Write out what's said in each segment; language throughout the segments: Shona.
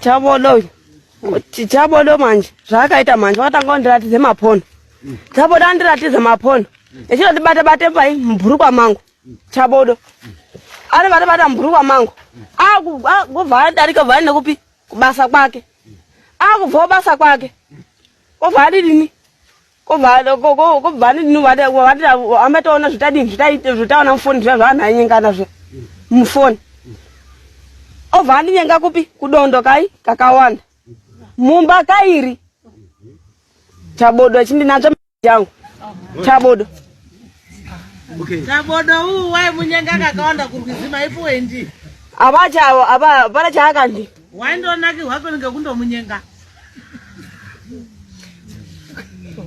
chabodo chabodo manje zvaakaita manje wakatanga wandiratidze maphono chabodo andiratidze maphono echitondibata bate pai mubhurukwa mangu chabodo anobata bata mubhurukwa mangu akubva adarika vhani nekupi kubasa kwake akubva kubasa kwake kobva adidini kobva adidini amataona zvitadini zvitaona mufoni zviya zvaanhu ainyengana zviya mufoni obva andinyenga kupi kudondo kai kakawanda mumba kairi chabodo chindinatsva changu chabodo chabodo uwu wai munyenga kakawanda kurwizima ipo wendi apa chavo apa hapana chaakandi waindonaki hwako ninge kundomunyenga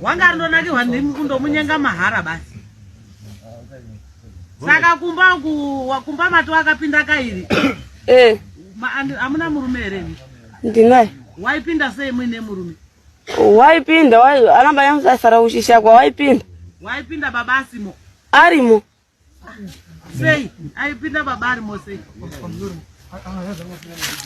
wanga arindonakihwa ndimi kundomunyenga mahara basi saka kumba kumba mati wakapinda kairi eh. amuna murume here ndinaye waipinda sei muine murume Waipinda wai anamba yamusasara uchishakwa waipinda. Waipinda baba asimo. Arimo. Sei? Aipinda baba arimo sei?